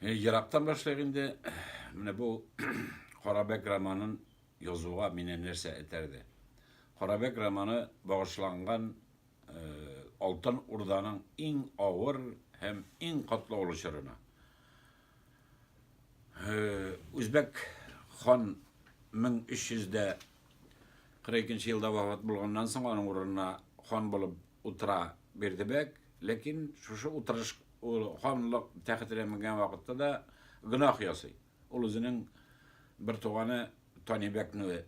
Ерактан башлыйк инде. Менә бу Карабәк романын язуга мине нәрсә этәрде? Карабәк романы багышланган Алтын Урданың иң авыр һәм иң катлаулы чорына. Үзбәк хан 1342 елда вафат булганнан соң, аның урынына хан булып утыра Бердебәк. Ләкин шушы утырыш Ул ханлык тәхетенә менгән вакытта да гөнаһ ясый. Ул үзенең бер туганы Танибәкне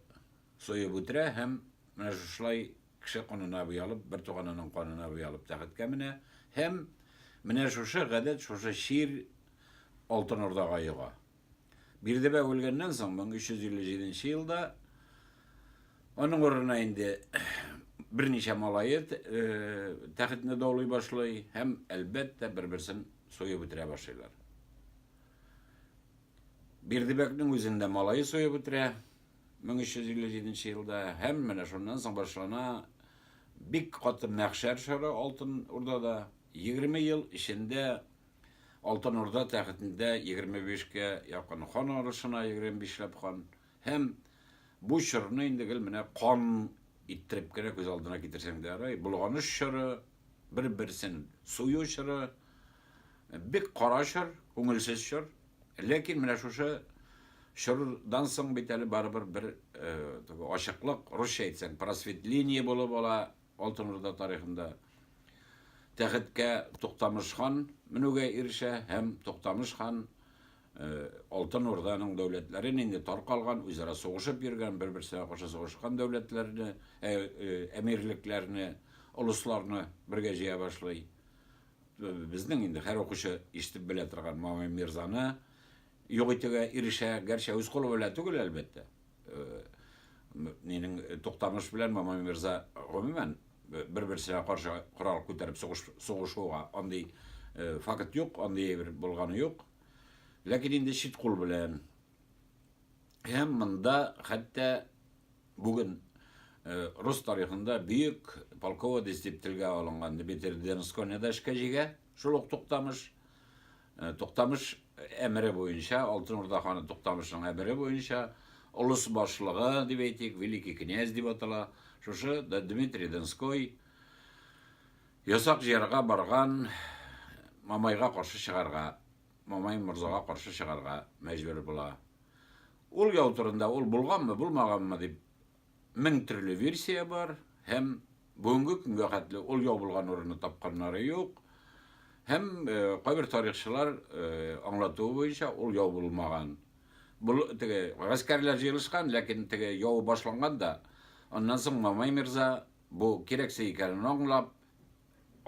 суеп үтерә һәм менә шушылай кеше канына буялып, бер туганының канына буялып тәхеткә менә һәм менә шушы гадәт, шушы чир Алтын Урдага йога. Бирдебәк үлгәннән соң 1357 нче елда аның урынына инде берничә малае тәхетне даулый башлый һәм, әлбәттә, бер-берсен суеп үтерә башлыйлар. Бирдебәкнең үзен дә малае суеп үтерә 1357 нче елда һәм менә шуннан соң башлана бик каты мәхшәр чоры Алтын Урдада. 20 ел эчендә Алтын Урда тәхетендә 25 кә якын хан арышына 25 ләп хан һәм бу чорны инде гел менә кан иттереп кенә күз алдына китерсәң дә ярый, болганыш чоры, бер-берсен сую чоры, бик кара чор, күңелсез чор. Ләкин менә шушы чордан соң бит әле барыбер бер э, ачыклык, русча әйтсәң, просветление булып ала, Алтын Урда тарихында тәхеткә Туктамыш хан менүгә ирешә һәм Туктамыш хан э, Алтын Урданың дәүләтләрен инде таркалган, үзара сугышып йөргән, бер-берсенә каршы сугышкан дәүләтләрне, ә, э, әмирлекләрне, олысларны бергә җыя башлый. Безнең инде һәр укучы ишетеп белә торган Мамай Мирзаны Юк итүгә ирешә, гәрчә үз кулы белән түгел, әлбәттә. Минең Туктамыш белән Мамай мирза гомумән бер-берсенә каршы корал күтәреп сугышуга андый факт юк, андый әйбер булганы юк. Ләкин инде чит кул белән һәм монда хәтта бүген Э, рус тарихында бөек полководец дип телгә алынган Дмитрий Донскойны да эшкә җигә. Шул ук Туктамыш э, Туктамыш әмере буенча, Алтын Урда ханы Туктамышның әмере буенча, олыс башлыгы дип әйтик, великий князь дип атала, шушы Дмитрий Донской ясак җыярга барган Мамайга каршы чыгарга, Мамай морзага каршы чыгарга мәҗбүр була. Ул яу турында ул булганмы, булмаганмы дип Мең төрле версия бар һәм бүгенге көнгә хәтле ул ябылган урынны тапканнары юк. Һәм э, кайбер тарихчылар э, аңлатуы буенча ул ябылмаган. Бул теге гаскәрләр җыелышкан, ләкин теге яу башланган да. Аннан соң Мамай мирза бу кирәксә икәнен аңлап,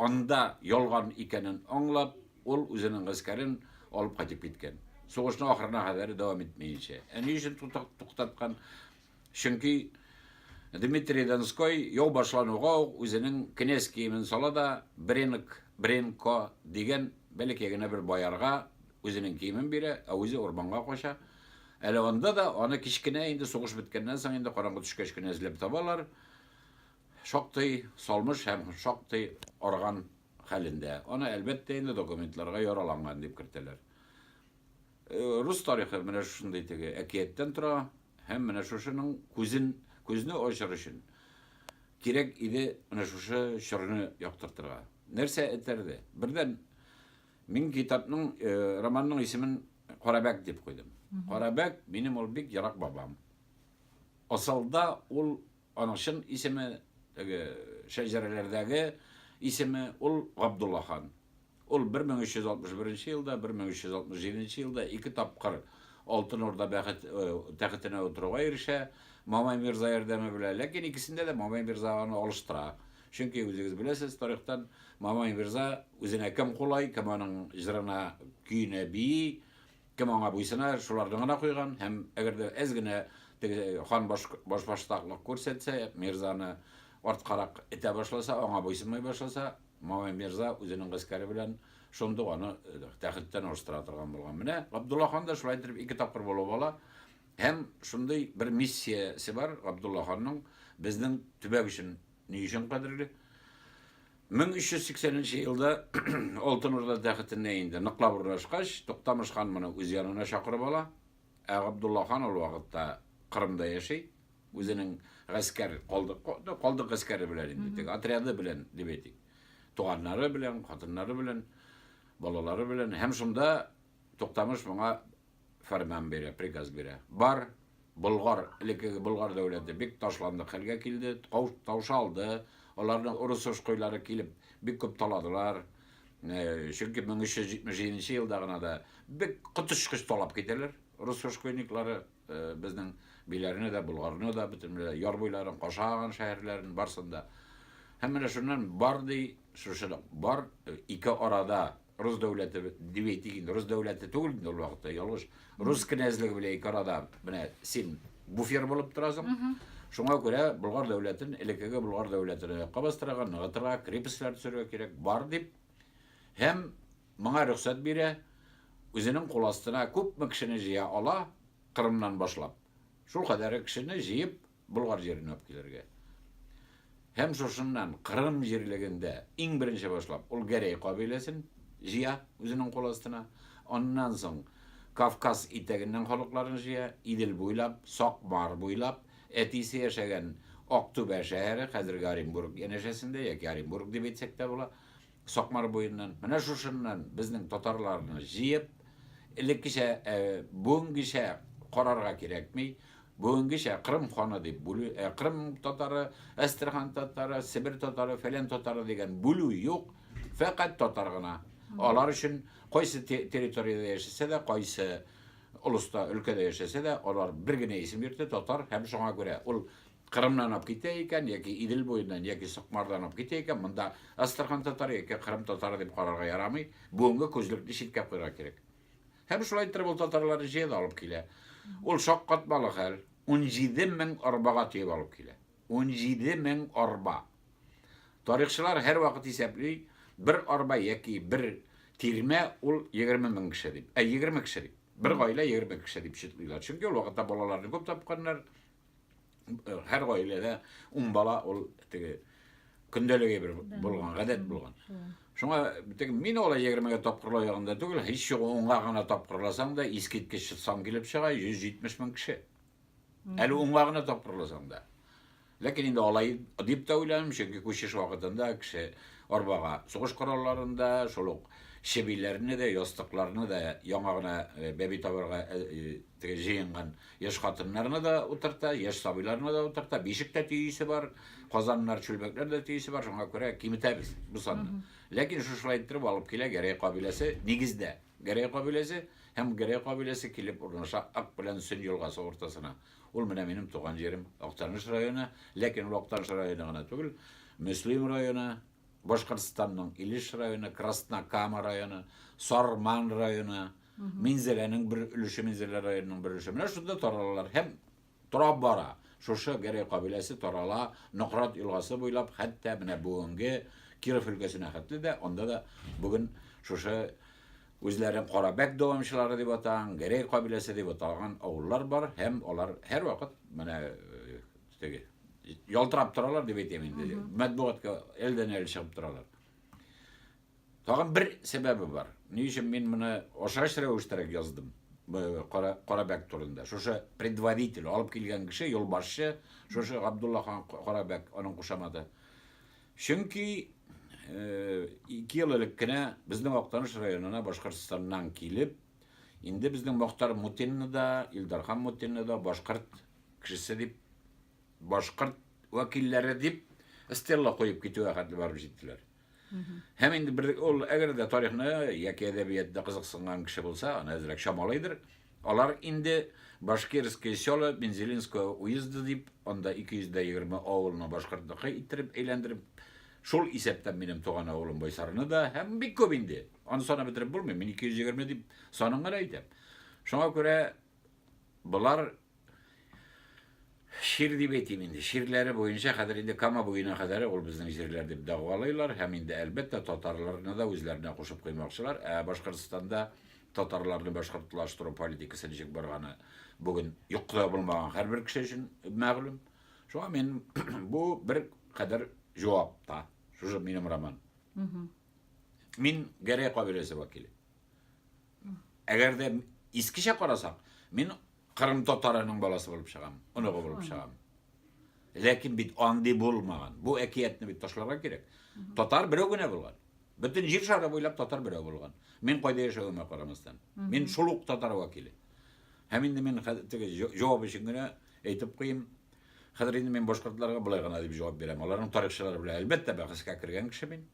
Анда ялган икәнен аңлап, ул үзенең гаскәрен алып кайтып киткән. Сугышның ахырына кадәр дәвам итмәенчә. Ә ни өчен туктаткан? Чөнки Дмитрий Донской яу башлануга ук үзенең кенәз киемен сала да, Бренк, Бренко дигән бәләкәй генә бер боярга үзенең киемен бирә, ә үзе урманга кача. Әле анда да аны кечкенә инде сугыш беткәннән соң инде караңгы төшкәч кенә эзләп табалар. Шактый салмыш һәм шактый арыган хәлендә. Аны, әлбәттә, инде документларга яраланган дип кертәләр. Э, рус тарихы менә шушындый теге әкияттән тора һәм менә шушының күзен, күзне ачыр өчен кирәк иде менә шушы чорны яктыртырга. Нәрсә этәрде? Бердән, мин китапның, э, романның исемен Карабәк дип куйдым. Карабәк, минем ул бик ярак бабам. Асылда ул Аның чын исеме, теге шәҗәрәләрдәге исеме, ул Габдулла хан. Ул 1361 нче елда, 1367 нче елда ике тапкыр Алтын Урда бәхет тәхетенә утыруга ирешә, Мамай мирза ярдәме белән. Ләкин икесендә дә Мамай мирза аны алыштыра. Чөнки, үзегез беләсез тарихтан, Мамай мирза үзенә кем кулай, кем аның җырына, көенә бии, Кем аңа буйсына, шуларны гына куйган һәм әгәр дә әз генә теге хан баш, башбаштаклык күрсәтсә, мирзаны арткарак этә башласа, аңа буйсынмый башласа, Мамай мирза үзенең гаскәре белән шундук аны э, тәхеттән алыштыра торган булган. Менә Габдулла хан да шулай итеп ике тапкыр булып ала һәм шундый бер миссиясе бар Габдулла ханның безнең төбәк өчен ни өчен кадерле 1380 нче елда Алтын Урда тәхетенә инде ныклап урнашкач, Туктамыш хан моны үз янына чакырып ала, ә Габдулла хан ул вакытта Кырымда яши, үзенең гаскәр калдык, калдык гаскәре белән инде, теге отряды белән, дип әйтик, туганнары белән, хатыннары белән, балалары белән, һәм шунда Туктамыш моңа фәрман бирә, приказ бирә. Бар, Болгар, элеккеге Болгар дәүләте бик ташландык хәлгә килде, таушалды, аларны урыс-ошкойлары килеп бик күп таладылар, чөнки 1377 елда гына да бик коточкыч талап китәләр урыс-ошкойниклары безнең биләрне дә, Болгарны да, бөтенләй яр буйларын, кашаган шәһәрләрен барсын да. Һәм менә шуннан бар ди, шушы бар ике арада Рус дәүләте дип әйтик инде, рус дәүләте түгел инде ул вакытта, ялгыш. Рус кенәзлеге белән ике арада менә син буфер булып торасың. Шуңа күрә Болгар дәүләтен, элеккеге Болгар дәүләтен аякка бастырырга, ныгытырга, крепостьләр төзергә кирәк, бар дип. Һәм моңа рөхсәт бирә, үзенең кул астына күпме кешене җыя ала, Кырымнан башлап. Шул кадәре кешене җыеп, Болгар җиренә алып килергә. Һәм шушыннан Кырым җирлегендә иң беренче башлап ул Гәрәй кабиләсен җыя үзенең кул астына. Аннан соң Кавказ итәгеннән халыкларын җыя, Идел буйлап, Сакмар буйлап, әтисе яшәгән Актүбә шәһәре, хәзерге Оренбург янәшәсендә, яки Оренбург дип әйтсәк тә була, Сакмар буеннан, менә шушыннан безнең татарларны җыеп, элеккечә, бүгенгечә карарга кирәкми, бүгенгечә Кырым ханы дип бүлү, Кырым татары, Әстерхан татары, Себер татары, фәлән татары дигән бүлү юк, фәкать татар гына. Алар өчен кайсы территориядә яшәсә дә, кайсы олыста, өлкәдә яшәсә дә, алар бер генә исем йөртә, татар һәм шуңа күрә ул Кырымнан алып китә икән, яки Идел буеннан, яки Сукмардан алып китә икән, монда Әстерхан татары яки Кырым татары дип карарга ярамый, бүгенге күзлекне читкә куярга кирәк. Һәм шулай иттереп ул татарларны җыя да алып килә. Ул шаккатмалы хәл, 17 мең арбага төяп алып килә. 17 мең арба! Тарихчылар һәрвакыт исәпли, бер арба яки бер тирмә ул 20 мең кеше дип. Ә 20 кеше дип. Бер гаилә 20 кеше дип читлиләр. Чөнки ул вакытта балаларны күп тапканнар, һәр гаиләдә ун бала ул теге көндәлеге бер булган гадәт булган шуңа теге мин алай егермегә тапкырлау ягында түгел һич югы унга гына тапкырласаң да искиткеч сан килеп чыга йөз җитмеш мең кеше әле унга гына тапкырласаң да ләкин инде алай дип тә уйланым чөнки күчеш вакытында кеше арбага сугыш коралларын да шул ук чебиләрне дә ястыкларны да яңа гына бәби табарга Җыенган яшь хатыннарны да утырта, яшь сабыйларны да утырта, бишек тә төйисе бар, казаннар, чүлмәкләр дә төйисе бар, шуңа күрә киметәбез бу санны. Ләкин шушылай иттереп алып килә Гәрәй кабиләсе, нигездә Гәрәй кабиләсе һәм Гәрәй кабиләсе килеп урнаша Ак белән Сөн елгасы уртасына. Ул менә минем туган җирем, Актаныш районы, ләкин ул Актаныш районы гына түгел, Мөслим районы, Башкортстанның Илеш районы, Краснокама районы, Сарман районы, Минзәләнең бер өлеше Минзәлә районының бер өлеше менә шунда таралалар һәм торап бара. Шушы Гәрәй кабиләсе тарала Нократ елгасы буйлап хәтта менә бүгенге Киров өлкәсенә хәтле дә, анда да бүген шушы үзләрен Карабәк дәвамчылары дип атаган, Гәрәй кабиләсе дип аталган авыллар бар һәм алар һәрвакыт менә теге ялтырап торалар дип әйтәм инде, матбугатка әлдән-әле чыгып торалар. Тагын бер сәбәбе бар. Ни өчен мин моны ашач рәвештәрәк яздым? Кара, Карабәк турында. Шушы предводитель, алып килгән кеше, юлбашчы, шушы Габдулла хан Карабәк, аның кушаматы. Чөнки ике ел элек кенә безнең Актаныш районына Башкортстаннан килеп, инде безнең Мохтар Мутинны да, Илдархан Мутинны да башкорт кешесе дип, башкорт вәкилләре дип стелла куеп китүгә хәтле барып җиттеләр. Һәм инде бер ул әгәр дә тарихны яки әдәбиятта кызыксынган кеше булса, аны әзрәк чамалыйдыр. Алар инде Башкирское село Бензелинского уезда дип, анда 220 авылны башкортныкы иттереп әйләндереп, шул исәптән минем туган авылым Байсарны да, һәм бик күп инде. Аны санап бетереп булмый, мин 220 дип санын гына әйтәм. Шуңа күрә болар Шир дип әйтим инде. Ширләре буенча хәзер инде Кама буена кадәр ул безнең җирләр дип дәгъвалыйлар һәм инде әлбәттә татарларны да үзләренә кушып куймакчылар. Ә Башкортстанда татарларны башкортлаштыру политикасы ничек барганы бүген юкта булмаган һәрбер кеше өчен мәгълүм. Шуңа мин бу бер кадәр җавап та. Шушы минем роман. Мин Гәрәй кабиләсе вәкиле. Әгәр дә искечә карасаң, мин Кырым татарының баласы булып чыгам, оныгы булып чыгам. Ләкин бит андый булмаган. Бу әкиятне бит ташларга кирәк. Татар берәү генә булган. Бөтен җир шары буйлап татар берәү булган. Мин кайда яшәвемә карамастан. Мин шул ук татар вәкиле. Һәм инде мин теге җавап өчен генә әйтеп куйым. Хәзер инде мин башкортларга былай гына дип җавап бирәм. Аларның тарихчылары белән әлбәттә бәхәскә кергән кеше мин.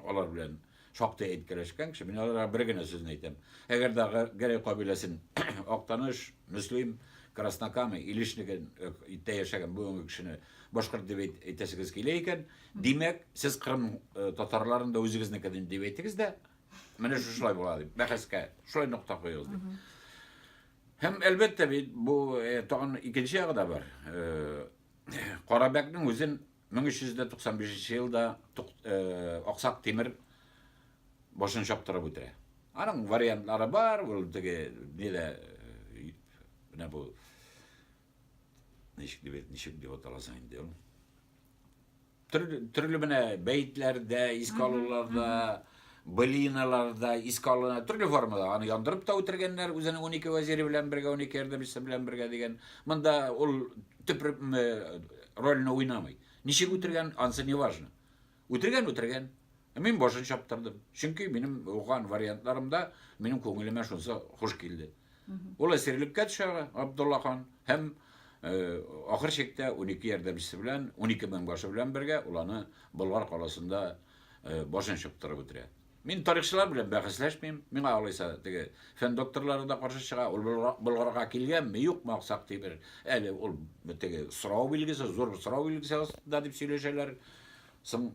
Алар белән шактый әйткәләшкән кеше. Мин аларга бер генә сүзне әйтәм. Әгәр дә Гәрәй кабиләсен Актаныш, Мөслим, Краснокама, Илешнеген э, иттә яшәгән бүгенге кешене башкорт дип әйтәсегез килә икән, димәк, сез Кырым э, татарларын да үзегезнекедән дип әйтегез дә, менә шушылай була дип, бәхәскә шулай нокта куегыз дип. Һәм әлбәттә бит бу э, тагын икенче ягы да бар. Карабәкнең үзен 1395 елда Аксак Тимер башын чаптырып үтерә. Аның вариантлары бар, ул теге нидә менә бу ничек дип ничек дип аталасың инде ул. Төрле, төрле менә бәетләрдә, искә алуларда, былиналарда, искә алуларда, төрле формада. Аны яндырып та үтергәннәр, үзенең 12 вәзире белән бергә, 12 ярдәмчесе белән бергә дигән. Монда ул төп рольне уйнамый. Ничек үтергән, ансы не важно. Үтергән, үтергән. Мин башын чаптырдым. Чөнки минем уган вариантларымда минем күңелемә шунсы хуш килде. Ул әсирлеккә төшә Абдулла хан һәм ахыр чиктә унике ярдәмчесе белән, унике меңбашы белән бергә ул аны Болгар каласында башын чыптырып үтерә. Мин тарихчылар белән бәхәсләшмим, миңа алайса теге фән докторлары да каршы чыга, ул Болгарга килгәнме, юкмы Аксак Тимер, әле ул теге сорау билгесе, зур сорау билгесе астында дип сөйләшәләр. Соң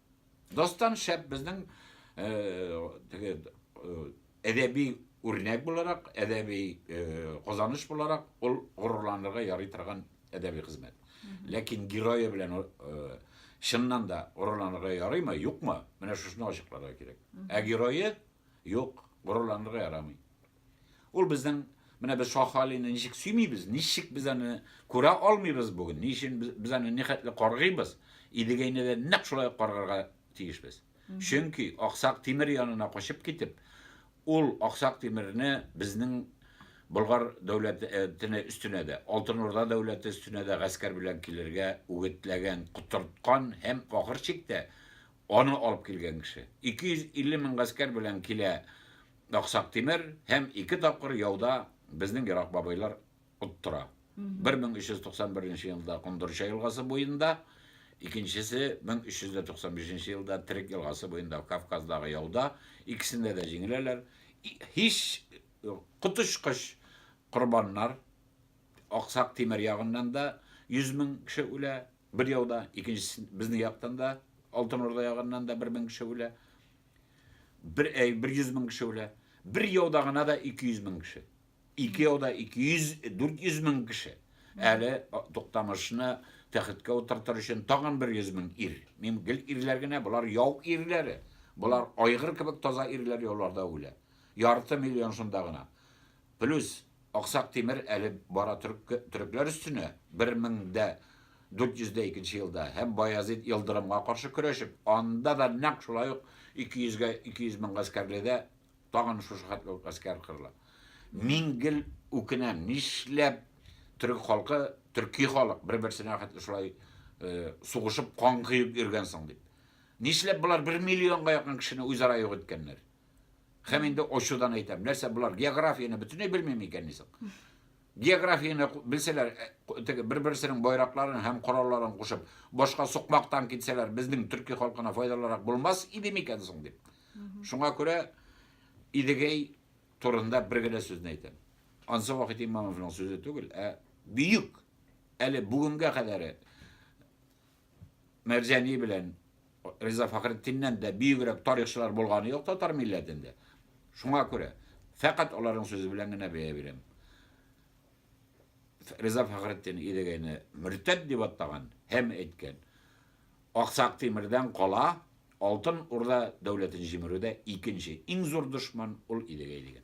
Достан шәп безнең теге әдәби үрнәк буларак, әдәби казаныш буларак ул горурланырга ярый торган әдәби хезмәт. Ләкин герое белән чыннан да горурланырга ярыймы, юкмы? Менә шушны ачыкларга кирәк. Ә герое юк, горурланырга ярамый. Ул безнең менә без Шаһ Алины ничек сөймибез, ничек без аны күрә алмыйбыз бүген, ни өчен без аны нихәтле каргыйбыз, Идегәйне дә нәкъ шулай каргарга тиешбез. Чөнки Аксак Тимер янына качып китеп, ул Аксак Тимерне безнең Болгар дәүләтенә өстенә дә, Алтын Урда дәүләте өстенә дә гаскәр белән килергә үгетләгән, котырткан һәм ахыр чиктә аны алып килгән кеше. 250 мең гаскәр белән килә Аксак Тимер һәм ике тапкыр яуда безнең ерак бабайлар оттыра. 1391 нче елда Кондырча елгасы буенда, икенчесе 1395 нче елда Терек елгасы буенда Кавказдагы яуда, икесендә дә җиңеләләр. Һич коточкыч корбаннар, Аксак Тимер ягыннан да 100 мең кеше үлә бер яуда, икенчесе безнең яктан да, Алтын Урда ягыннан да 1000 кеше үлә. Бер әй, бер йөз мең кеше үлә. Бер яуда гына да 200 мең кеше. Ике яуда 200, 400 мең кеше. Әле Туктамышны тәхеткә утыртыр өчен тагын бер йөз мең ир. Мин гел ирләр генә, болар яу ирләре. Болар айгыр кебек таза ирләр яуларда үлә. Ярты миллион шунда гына. Плюс, Аксак Тимер әле бара төрекләр өстенә, 1402 нче елда, һәм Баязит Елдырымга каршы көрәшеп, анда да нәкъ шулай ук 200 гә 200 мең гаскәрледә тагын шушы хәтле үк гаскәр кырыла. Мин гел үкенәм, нишләп төрек халкы, төрки халык бер-берсенә хәтле шулай сугышып, кан коеп йөргән соң дип. Нишләп болар бер миллионга якын кешене үзара юк иткәннәр? Хәм инде очудан әйтәм, нәрсә булар географияне бөтенләй белмим икән нисек? Географияне белсәләр, э, теге бер-берсенең байракларын һәм коралларын кушып, башка сукмактан китсәләр, безнең төрки халкына файдалырак булмас иде микән соң дип. Шуңа күрә Идегәй турында бер генә сүзне әйтәм. Ансы вакыт имамовның сүзе түгел, ә бөек әле бүгенгә кадәр Мәрҗани белән Риза Фәхретдиннән дә бөегрәк тарихчылар булганы юк татар милләтендә. Шуңа күрә фәкать аларның сүзе белән генә бәя бирәм. Риза Фәхретдин Идегәйне мөртәт дип аттаган һәм әйткән. Аксак Тимирдән кала Алтын Урда дәүләтен җимерүдә икенче иң зур дошман ул Идегәй дигән.